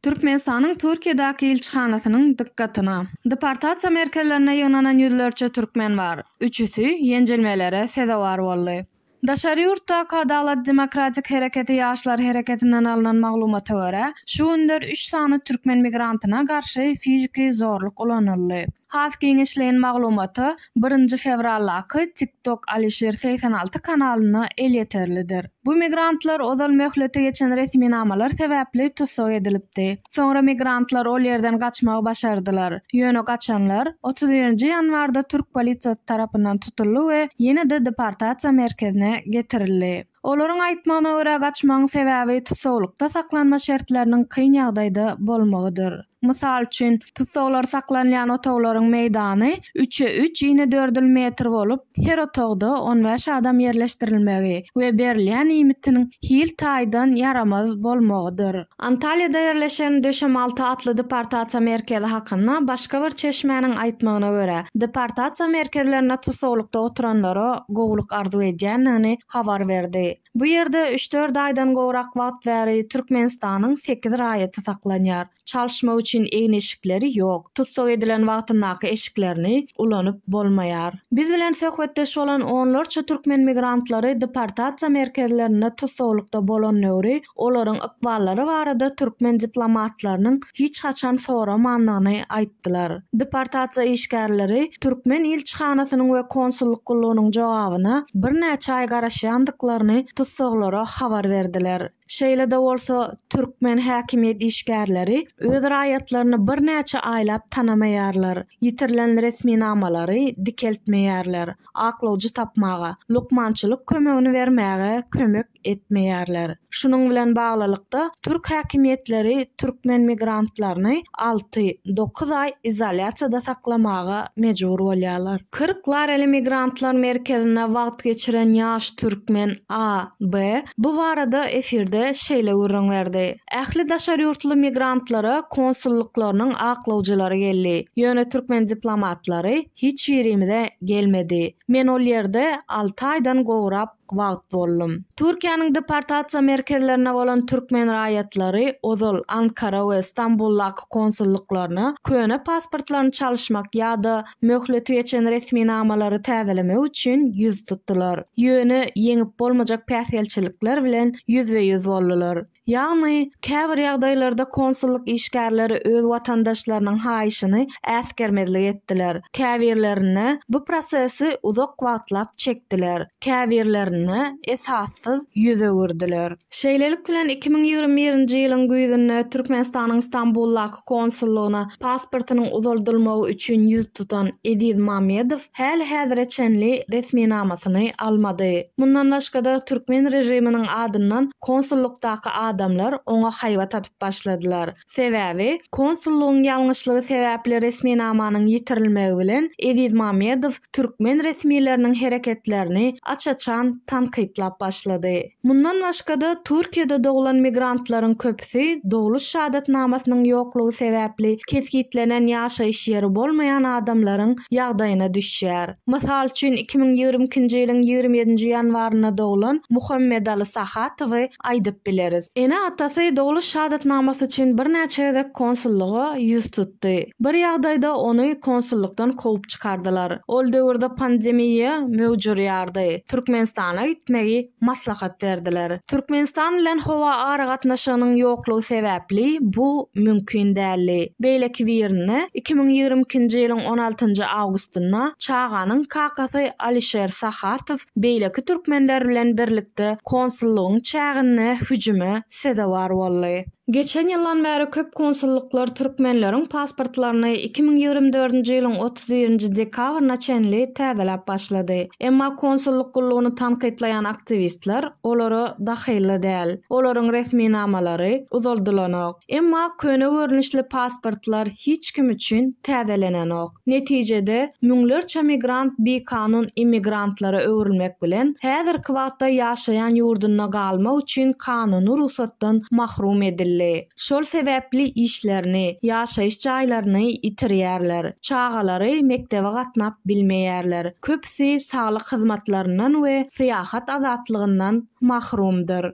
Türkmenistanyň Türkiýedäki ilçihanasynyň dykgatyna. Deportasiýa merkezlerinde ýygnanan ýüzlerçe türkmen bar. Üçüsi ýenjilmelere sezewar boldy. Daşary ýurtdaky Adalat demokratik hereketi ýaşlar hereketinden alnan maglumata görä, şu günler üç sany türkmen migrantyna garşy fiziki zorluk ulanyldy. Has giňişleýin maglumata birinji fewraldaky TikTok Alişir segsen alty kanalynda elýeterlidir. Bu migrantlar ozal möhleti geçen resminamalar sebäpli tussag edilipdi. Soňra migrantlar ol ýerden gaçmagy başardylar. Ýöne gaçanlar otuz birinji ýanwarda türk polisiýasy tarapyndan tutuldy we ýene-de deportasiýa merkezine getirildi. Olaryň aýtmagyna görä, gaçmagyň sebäbi tussaglykda saklanma şertleriniň kyn ýagdaýda bolmagydyr. Mysal üçin, tussaglar saklanylýan otaglaryň meýdany üçe üç ine dördül metr bolup, her otagda on bäş adam ýerleşdirilmegi we berilýän iýmitiniň hil taýdan ýaramaz bolmagydyr. Antalýada ýerleşen Döşemalty atly deportasiýa merkezi hakynda başga bir çeşmäniň aýtmagyna görä, deportasiýa merkezlerinde tussaglykda oturanlara gowulyk arzuw edýändigini habar berdi. Bu ýerde üç-dört aýdan gowrak wagt bäri Türkmenistanyň sekiz raýaty saklanýar. Çalyşmak üçin egin-eşikleri ýok. Tussag edilen wagtyndaky eşiklerini ulanyp bolmaýar. Biz bilen söhbetdeş bolan onlarça türkmen migrantlary deportasiýa merkezlerinde tussaglykda bolan döwri olaryň ykballary barada türkmen diplomatlarynyň hiç haçan soramandygyny aýtdylar. Deportasiýa işgärleri türkmen ilçihanasynyň we konsullyk gullugynyň jogabyna birnäçe aý garaşýandyklaryny tussaglara habar berdiler. Şeýle-de bolsa, türkmen häkimiýet işgärleri öz raýatlaryny birnäçe aýlap tanamaýarlar, ýitirilen resminamalary dikeltmeýärler, aklawjy tapmaga, lukmançylyk kömegini bermäge kömek etmeýärler. Şunuň bilen baglylykda, türk häkimiýetleri türkmen migrantlaryny alty, dokuz aý izolýasiýada saklamaga mejbur bolýarlar. Kyrk lareli migrantlar merkezinde wagt geçiren ýaş türkmen A.B. bu barada efirde şeýle gürrüň berdi, Ähli daşary ýurtly migrantlara konsullyklarynyň aklawjylary geldi, ýöne türkmen diplomatlary hiç birimize gelmedi. Men ol ýerde alty aýdan gowrap wagt boldum. Türkiýäniň deportasiýa merkezlerine bolan türkmen raýatlary ozal Ankara we Stambuldaky konsullyklaryna köne pasportlaryny çalyşmak ýa-da möhleti geçen resminamalary täzelemek üçin ýüz tutdular. Ýöne ýeňip bolmajak päsgelçilikler bilen ýüzbe-ýüz boldular. Ýagny, käbir ýagdaýlarda konsullyk işgärleri öz watandaşlarynyň haýyşyny äsgermezlik etdiler, käbirlerinde bu prosesi uzak wagtlap çekdiler, käbirlerinde esassyz ýüz öwürdiler. Şeýlelik bilen, iki müň ýigrimi birinji ýylyň güýzünde Türkmenistanyň Stambuldaky konsullygyna pasportynyň uzaldylmagy üçin ýüz tutan Eziz Mamedow häli-häzire çenli resminamasyny almady. Mundan başga-da, türkmen režiminiň adyndan konsullykdaky adamlar oňa haýbat atyp başladylar. Sebäbi, konsullygyň ýalňyşlygy sebäpli resminamanyň ýitirilmegi bilen Eziz Mamedow türkmen resmileriniň hereketlerini aç-açan tankytlap başlady. Mundan başga-da, Türkiýede doglan migrantlaryň köpüsi Şahsy dogluş şahadatnamasynyň ýoklugy sebäpli kesgitlenen ýaşaýyş ýeri bolmaýan adamlaryň ýagdaýyna düşýär. Mysal üçin, iki müň ýigrimi ikinji ýylyň ýigrimi ýedinji ýanwarynda doglan Muhammedaly Sahatowy aýdyp bileris. Ene-atasy dogluş şahadatnamasy üçin birnäçe gezek konsullyga ýüz tutdy. Bir ýagdaýda ony konsullykdan kowup çykardylar. Ol döwürde pandemiýa möwç urýardy. Türkmenistana gitmegi maslahat berdiler. Türkmenistan bilen howa aragatnaşygynyň ýoklugy sebäpli bu mümkin däldi. Beýleki birinde, iki müň ýigrimi ikinji ýylyň on altynjy awgustynda çaganyň kakasy Alişer Sahatow beýleki türkmenler bilen birlikde konsullygyň çäginde hüjüme sezewar boldy. Geçen ýyldan bäri köp konsullyklar türkmenleriň pasportlaryny iki müň ýigrimi dördünji ýylyň otuz birinji dekabryna çenli täzeläp başlady. Emma konsullyk gullugyny tankytlaýan aktiwistler olara dahylly däl. Olaryň resminamalary uzaldylanok. Emma köne görnüşli pasportlar hiç kim üçin täzelenenok. Netijede, müňlerçe migrant bikanun immigrantlara öwrülmek bilen, häzirki wagtda ýaşaýan ýurdunda galmak üçin kanuny rugsatdan mahrum edildi. Şol sebäpli işlerini, ýaşaýyş jaýlaryny ýitirýärler, çagalary mekdebe gatnap bilmeýärler, köpüsi saglyk hyzmatlaryndan we syýahat azatlygyndan mahrumdyr.